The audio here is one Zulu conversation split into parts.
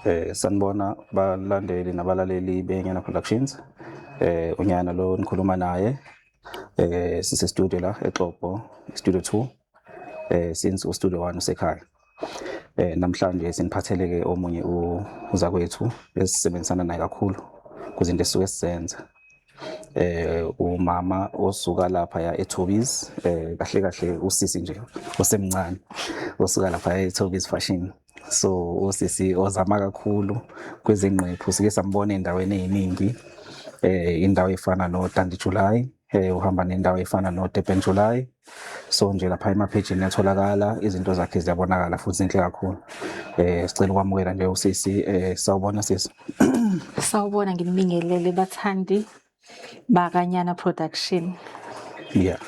Eh sanibona balandeli nabalaleli beNyana Productions. Eh unyana lo nikhuluma naye eh sise studio la eXopo studio 2 eh since ustudio 1 usekhaya. Eh namhlanje siniphatheleke omunye uzakwethu esisebenzisana naye kakhulu kuzinto esuke sisenza. eh umama osuka lapha ya eThobies eh kahle kahle usisi nje osemncane osuka lapha eThobies fashion so usisi ozama kakhulu kwezingqephu sike sambona endaweni eziningi eh indawo efana no Dandi July eh uhamba nendawo efana no Durban July so nje lapha emaphejini yatholakala izinto zakhe ziyabonakala futhi zinhle kakhulu eh sicela ukwamukela nje usisi eh sawubona sisi sawubona nginibingelele bathandi bakanyana production yeah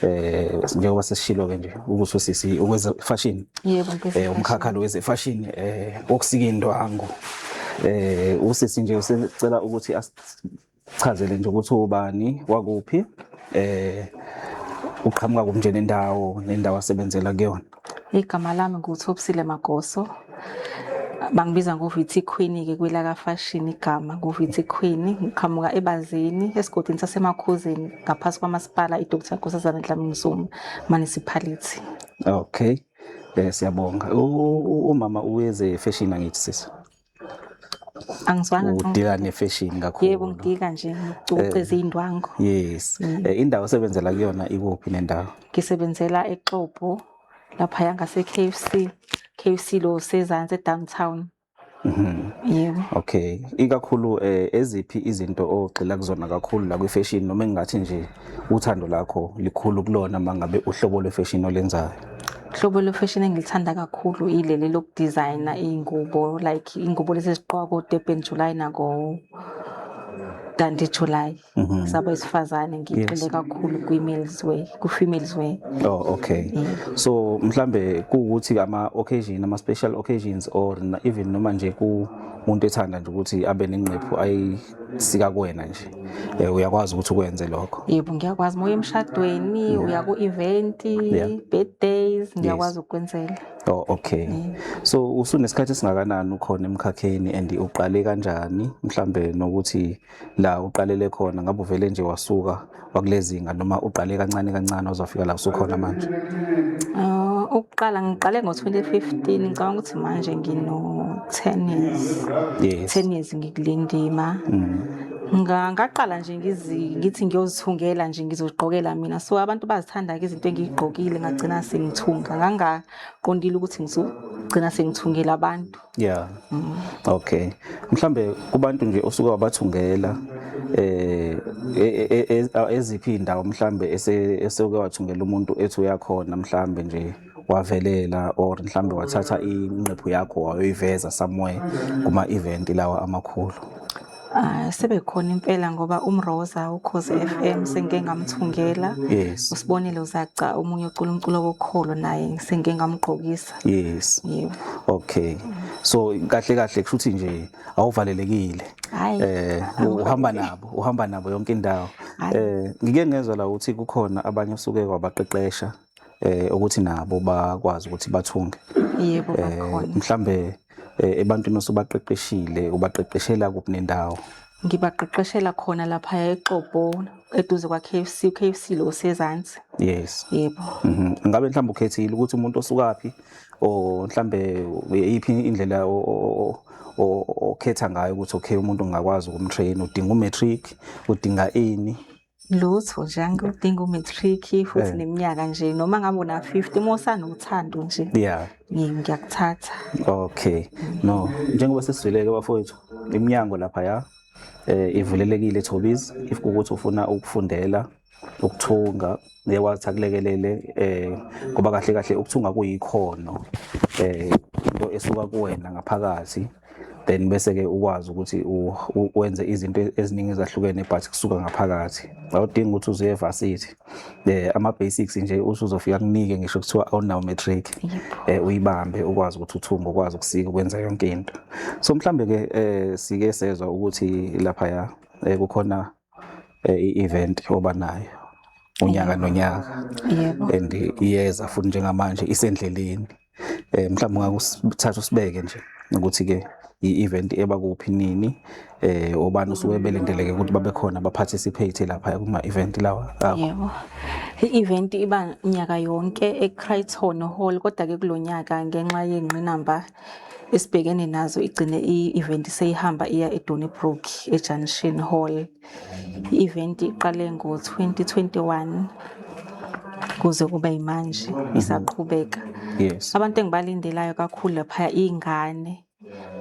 eh njengoba sesishilo ke nje ukuthi usisi ukweze fashion yebo eh umkhakha lo weze fashion eh okusika indwangu eh usisi nje usicela ukuthi asichazele nje ukuthi ubani wakuphi eh uqhamuka kumnje nendawo nendawo asebenzela kuyona Igama lami nguThobisile Magoso. Bangibiza ngoVithi Queen-ke kwelaka fashion igama ngoVithi Queen. Ngiqhamuka eBazini esigodini saseMakhuzeni ngaphansi kwamasipala iDr Nkosazana Dlamini Zuma municipality. Okay. Eh siyabonga. Umama uweze fashion angithi sisi. angizwana udika nefashion kakhulu yebo ngidika nje ngicoceza eh, izindwangu yes mm. eh, indawo osebenzela kuyona ikuphi nendawo ngisebenzela exopo lapha yanga se KFC KFC lo sezansi edowntown Mhm. Yebo. Okay. Ikakhulu eh eziphi izinto ogxila kuzona kakhulu la kwi fashion noma engathi nje Uthando lakho likhulu kulona mangabe uhlobo lwefashion olenzayo. Hlobo lwefashion engilithanda kakhulu ileli lokudesigner ingubo like ingubo lezi eziqoka ko Durban July nako Dandi July. Mm -hmm. Sabo isifazane ngigxile yes. kakhulu kwi males way, ku females way. Oh okay. Yeah. So mhlambe kuukuthi ama occasion ama special occasions or even noma nje ku umuntu ethanda nje ukuthi abe nengqephu ayi sikakwena nje eh, uyakwazi ukuthi ukwenze lokho yebo ngiyakwazi moya emshadweni uya ku-event Yeah. birthdays ngiyakwazi ukukwenzela oh, okay so usunesikhathi esingakanani ukhona emkhakheni and uqale kanjani mhlambe nokuthi la uqalele khona ngabe uvele nje wasuka wakulezinga noma uqale kancane kancane ozofika la usukhona manje uh, ukuqala ngiqale ngo-2015 ngicabanga ukuthi manje ngino-ten years yes. ten years ngikulindima mm. ngaqala nje ngithi ngiyozithungela nje ngizozigqokela mina so abantu bazithanda-ke izinto engiyigqokile ngagcina sengithunga ngangaqondile ukuthi ngizogcina sengithungela abantu Yeah. Mm. Okay. Mhlambe kubantu nje osuka wabathungela eh e, e, e, eziphi indawo mhlambe esoke wathungela umuntu ethi uyakhona mhlambe nje wavelela or mhlambe wathatha inqephu yakho wayoyiveza somewhere kuma event lawa amakhulu. Ah, sebekhona impela ngoba umroza ukhoze FM sengike ngamthungela yes usibonile uzaca omunye ocula umculo wokholo naye sengike ngamgqokisa yes yebo okay so kahle kahle kusho ukuthi nje awuvalelekile Hhayi, eh awuvalelekile. uhamba nabo uhamba nabo yonke indawo Hhayi. eh ngike ngezwa la ukuthi kukhona abanye osuke wabaqeqesha eh ukuthi nabo bakwazi ukuthi bathunge yebo eh, bakhona mhlambe eh, ebantwini osobaqeqeshile ubaqeqeshela kuphi nendawo ngibaqeqeshela khona lapha eXopo eduze kwa KFC uKFC lo sezansi yes yebo mhm. ngabe mhlawumbe ukhethile ukuthi umuntu osukaphi o mhlambe iphi indlela okhetha ngayo ukuthi okay umuntu ngakwazi ukumtrain udinga umatric udinga ini lutho nje angidinga umatric futhi eh. neminyaka nje noma ngabe una 50 uma usanothando nje yeah ngiyakuthatha okay no njengoba sesizwileke bafowethu iminyango lapha ya eh ivulelekile Thobiz if ukuthi ufuna ukufundela ukuthunga ngiyakwazi akulekelele eh ngoba kahle kahle ukuthunga kuyikhono eh into esuka kuwena ngaphakathi then bese ke ukwazi ukuthi wenze izinto eziningi ezahlukene but kusuka ngaphakathi awudingi ukuthi uze evarsity eh ama basics nje usuzofika kunike ngisho kuthiwa awunawo matric eh uyibambe ukwazi ukuthi uthumbe ukwazi ukusika ukwenza yonke into so mhlambe ke eh sike sezwa ukuthi lapha ya eh, kukhona eh, i-event oba nayo unyaka nonyaka and iyeza futhi njengamanje isendleleni eh mhlawumbe ngakusithatha usibeke nje ukuthi ke i-event eba kuphi nini eh obani usuke belindeleke ukuthi babe khona ba participate lapha kuma event lawa yebo i-event iba nyaka yonke eCrichton Hall kodwa ke kulonyaka ngenxa yengqinamba esibhekene nazo igcine i-event seyihamba iya edonybrook ejunction hall i-event iqale ngo-2021 kuze kube yimanje mhm. isaqhubeka yes. abantu engibalindelayo kakhulu laphaya iy'ngane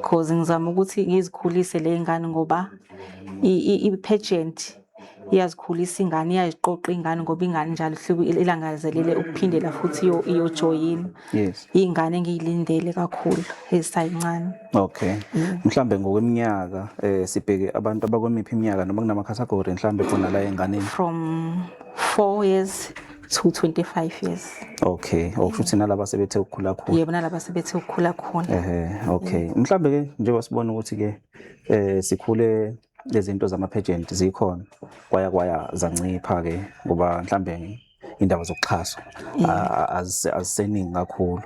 cause ngizama ukuthi ngizikhulise le y'ngane ngoba i-pageant iyazikhulisa ingane iyaziqoqa ingane ngoba ingane njalo hluku ilangazelele ukuphindela futhi iyojoyina yes ingane engiyilindele kakhulu ezisayincane okay mm. mhlambe ngokweminyaka eh sibheke abantu abakwemiphi iminyaka noma kunama category mhlambe khona la enganeni from 4 years to 25 years okay okusho ukuthi nalaba sebethe ukukhula khona yebo nalaba sebethe ukukhula khona ehe okay mhlambe ke njengoba sibona ukuthi ke eh sikhule lezinto zamaphejenti zikhona kwaya kwaya zancipha ke ngoba mhlambe indaba zokuxhaswa aziseningi kakhulu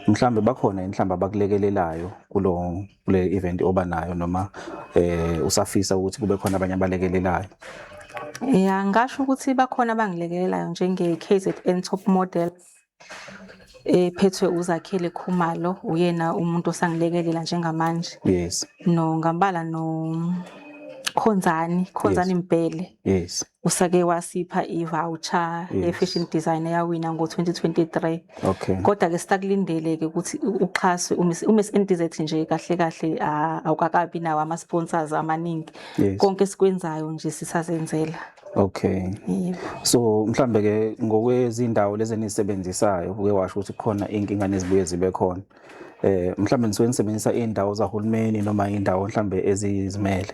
mhlambe bakhona inhlamba abakulekelelayo kulo kule event oba nayo noma eh usafisa ukuthi kube khona abanye abalekelelayo ya ngasho ukuthi bakhona abangilekelelayo njenge KZN top model ephethwe uZakhele Khumalo uyena umuntu osangilekelela njengamanje yes no ngambala no Khonzani Khonzani Mbhele yes usake wasipha i-voucher ye-fashion design eyawina ngo-2023 okay kodwa ke sitakulindele ke ukuthi uxhaswe uMiss NDZ nje kahle kahle awukakabi nawo ama-sponsors amaningi konke esikwenzayo nje sisazenzela Okay. Yebo. So mhlambe ke ngokwezindawo lezi enisebenzisayo uke washo ukuthi khona inkinga nezibuye zibe khona. Eh mhlambe nisuke nisebenzisa indawo zahulumeni noma indawo mhlambe ezizimele.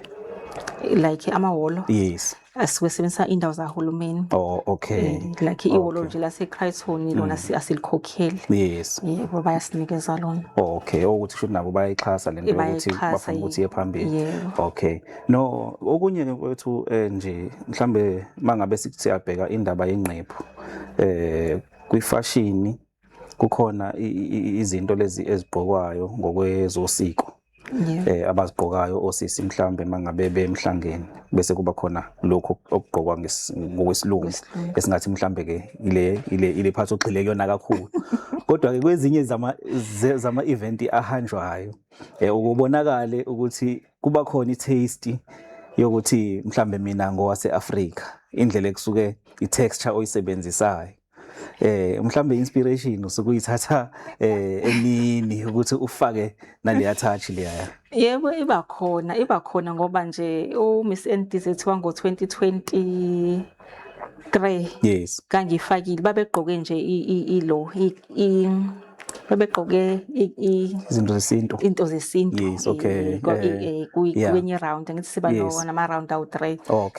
Like amahholo. Yes. Asuke sebenzisa indawo zahulumeni. Oh okay. Eh, Like ihholo Okay. nje lase Crichton lona si- asilikhokheli. Yes. Yebo bayasinikeza lona. Oh, okay. Ukuthi shuthi nabo bayayixhasa lento Eh, yokuthi bayayixhasa, bafuna ukuthi iye yebo. phambili. Yebo. Okay. No, okunye ke kwethu eh, nje mhlambe mangabe siyabheka indaba yengqephu eh kwifashini kukhona i- i- i- izinto lezi ezigqokwayo ngokwezosiko Yeah. eh abazigqokayo osisi mhlambe mangabe bemhlangeni bese kuba khona lokho okugqokwa ngesi- ngokwesilungu Ngokwesilungu. esingathi mhlambe ke ile ile ile phathi ogxile kuyona kakhulu kodwa ke kwezinye zama ze- zama event ahanjwayo eh ukubonakale ukuthi kuba khona i-taste yokuthi mhlambe mina ngowase-Afrika indlela ekusuke i-texture oyisebenzisayo eh mhlambe inspiration usuke uyithatha eh emini ukuthi ufake naleya touch leya yebo iba khona iba khona ngoba nje u Miss NDZ wango 2020 grey yes kangifakile babegqoke nje ilo babegqoke izinto zesintu into zesintu yes okay kwenye round ngithi siba nama round awu three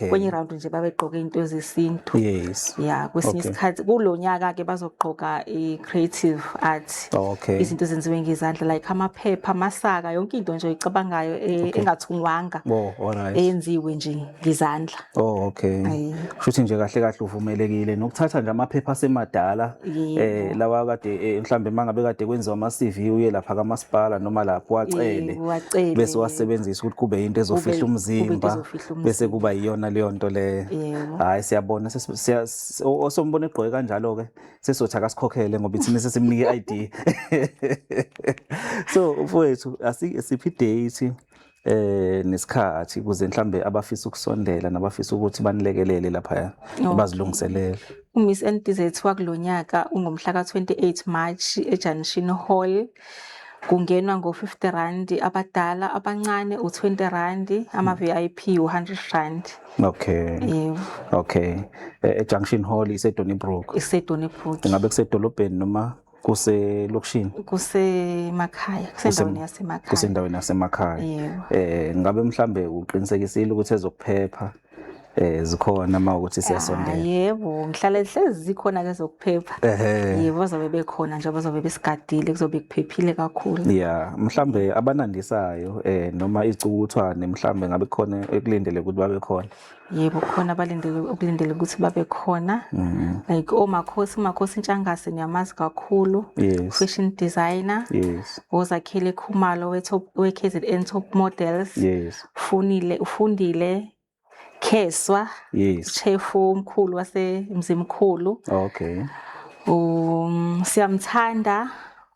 kwenye round nje babegqoke into zesintu yes yeah kwesinye isikhathi kulonyaka ke bazogqoka i creative art okay izinto ezenziwe ngezandla like amaphepha amasaka yonke into nje oyicabangayo e, engathungwanga oh, eyenziwe nje ngezandla Oh okay. Ayi. Shuthi nje kahle kahle uvumelekile nokuthatha nje amaphepha asemadala Yebo. eh lawa kade eh, mhlambe mangabe kade kwenziwa ama CV uye lapha kamasipala noma lapho wacele Yebo, wacele. bese wasebenzisa ukuthi kube into ezofihla Kube- kube into umzimba ezofihla umzimba. bese kuba iyona leyo nto leyo. Yebo. Hayi siyabona ses- siya- s- o- osombona egqoke kanjalo ke sesothi akasikhokhele ngoba ithina sesimnike i-ID. So mfowethu asike siphi date eh nesikhathi kuze mhlambe abafisa ukusondela nabafisa ukuthi banilekelele lapha bazilungiselele uMiss NTZ wakulonyaka ungomhla ka28 March eJunction Hall kungenwa ngo 50 rand abadala abancane u 20 rand ama hmm. VIP u 100 rand okay yebo okay e, e Junction Hall ise Donnybrook ise Donnybrook ngabe kusedolobheni noma kuselokishini kusemakhaya kusendaweni yasemakhaya kusendaweni yasemakhaya yebo eh ngabe mhlambe uqinisekisile ukuthi ezokuphepha eh zikhona uma ukuthi siyasondela ah, yebo ngihlala ehlezi zikhona ke zokuphepha yebo bazobe bekhona nje bazobe besigadile kuzobe kuphephile kakhulu yeah mhlambe abanandisayo eh noma izicukuthwane mhlambe ngabe khona ekulindele ukuthi babe khona yebo khona abalindele ukulindele ukuthi babe khona mm. like omakhosi umakhosi intshangase niyamazi kakhulu yes. fashion designer yes. ozakhele khumalo we-kzn top models yes. funile ufundile kheswa yes. chefu omkhulu wasemzimkhulu okay um, siyamthanda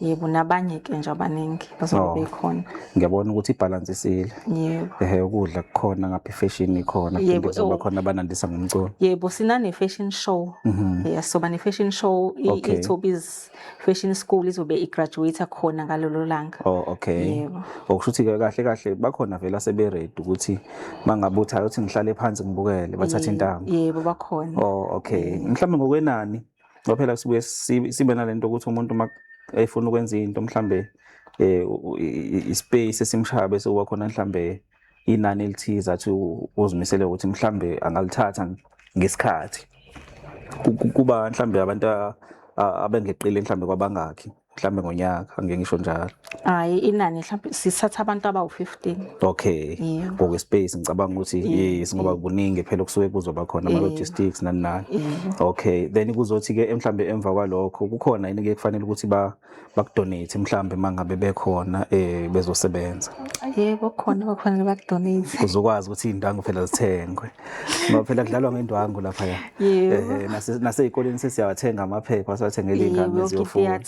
yebo nabanye ke nje abaningi bazobe Oh. bekhona ngiyabona ukuthi ibhalansi isile yebo ehe ukudla kukhona ngapha ifeshini ikhona phinde Yebo, kuzoba oh. khona abanandisa ngomculo yebo sinane-fashion show Mhm. yes soba ne-fashion show i- Okay. ithobiz fashion school izobe igraduate khona ngalolo langa oh okay Yebo. okusho ukuthi ke kahle kahle bakhona vele aseberedi ukuthi mangabe uthi ayothi ngihlale phansi ngibukele bathathe intambo yebo bakhona oh okay mhlawumbe ngokwenani ngoba phela sibuye sibe nalento ukuthi umuntu uma efuna ukwenza into mhlambe eh ispace esimshaya bese uba khona mhlambe inani elithize athi uzimisele ukuthi mhlambe angalithatha ngesikhathi kuba mhlambe abantu abengeqile mhlambe kwabangakhi mhlambe ngonyaka ngeke ngisho njalo hayi inani mhlambe sisatha abantu abawu-15 okay ngoke space ngicabanga ukuthi yes ngoba kuningi phela kusuke kuzoba khona ama logistics nani nani okay then kuzothi ke mhlambe emva kwalokho kukhona yini ke kufanele ukuthi ba bakudonate mhlambe mangabe bekhona eh bezosebenza yebo khona bakhona bakudonate uzokwazi ukuthi indangu phela zithengwe ngoba phela kudlalwa ngendwangu lapha ya nasezikoleni sesiyawathenga amaphepha siwathengele ingane ziyofunda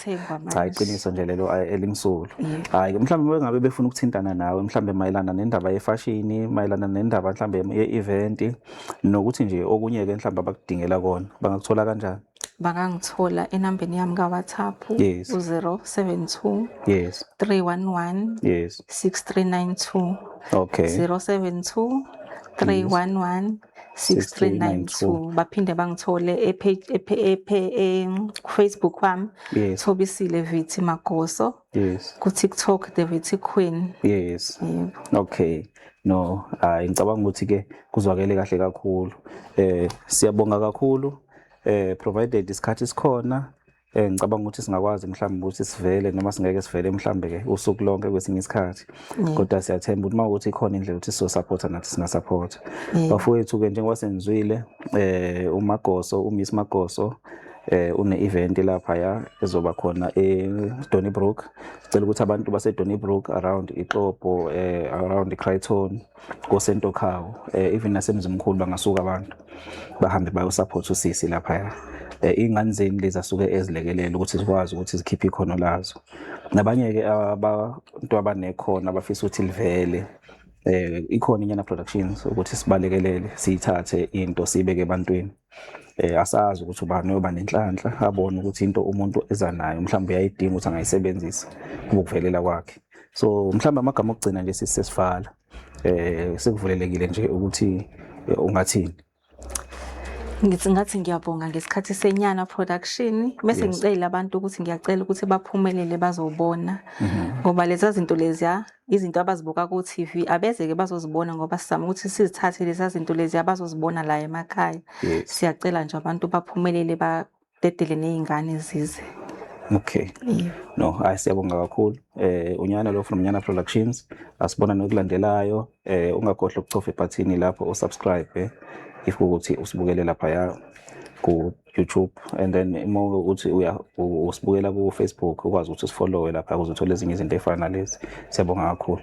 cha iqiniso nje lelo elimsulu hayi mhlawumbe bengabe befuna ukuthintana nawe mhlawumbe mayelana nendaba yefashini mayelana nendaba mhlawumbe ye-event nokuthi nje okunye-ke mhlawumbe abakudingela kona bangakuthola kanjani bakangithola enambeni yami kaWhatsApp yes. u-072 yes. 311 yes. 6392 okay. 072 311 6392 baphinde bangithole efacebook e, e, wami yes. thobisile vithi magoso yes. kutiktok the vithi queen yes. yep. okay no hayi ngicabanga ukuthi ke kuzwakele kahle kakhulu eh siyabonga kakhulu eh provided isikhathi sikhona eh ngicabanga ukuthi singakwazi mhlawumbe ukuthi sivele noma singeke sivele mhlawumbe ke usuku lonke kwesinye isikhathi mm. kodwa siyathemba ukuthi mawukuthi ikhona indlela ukuthi so support nathi singa support mm. bafowethu ke njengoba senzwile eh uMagoso uMiss Magoso eh une event lapha ya ezoba khona eDonnybrook sicela ukuthi abantu baseDonnybrook around iXopo eh around iCrichton kosentokhawu um eh, even nasemzimkhulu bangasuka abantu bahambe bayosaphotha usisi laphaya um eh, iy'ngane zeni lezi asuke ezilekelela ukuthi zikwazi ukuthi zikhiphe ikhono lazo nabanye-ke abantu abanekhono abafisa ukuthi livele um ikhona inyana productions ukuthi sibalekelele siyithathe into siyibeke ebantwini eh asazi ukuthi ubani oyoba nenhlanhla abone ukuthi into umuntu eza nayo mhlawumbe uyayidinga ukuthi angayisebenzisa ukuvelela kwakhe so mhlawumbe amagama okugcina nje sisesifala eh sekuvulelekile nje ukuthi eh, ungathini ngithi ngathi ngiyabonga ngesikhathi senyana production bese ngicela abantu ukuthi ngiyacela ukuthi baphumelele bazobona mhm. ngoba lezi zinto leziya izinto abazibuka ku TV abezeke bazozibona ngoba sizama ukuthi sizithathe lezi zinto lezi abazozibona la emakhaya yes. siyacela nje abantu baphumelele badedele nezingane zize okay yeah. no hayi siyabonga kakhulu eh unyana lo from nyana productions asibona nokulandelayo eh ungakhohlwa ukucofa ebhathini lapho usubscribe eh, if ukuthi usibukele lapha ya ku YouTube and then uma ukuthi uya usibukela ku Facebook ukwazi ukuthi usifollowe lapha ukuze uthole ezinye izinto efana nalezi siyabonga kakhulu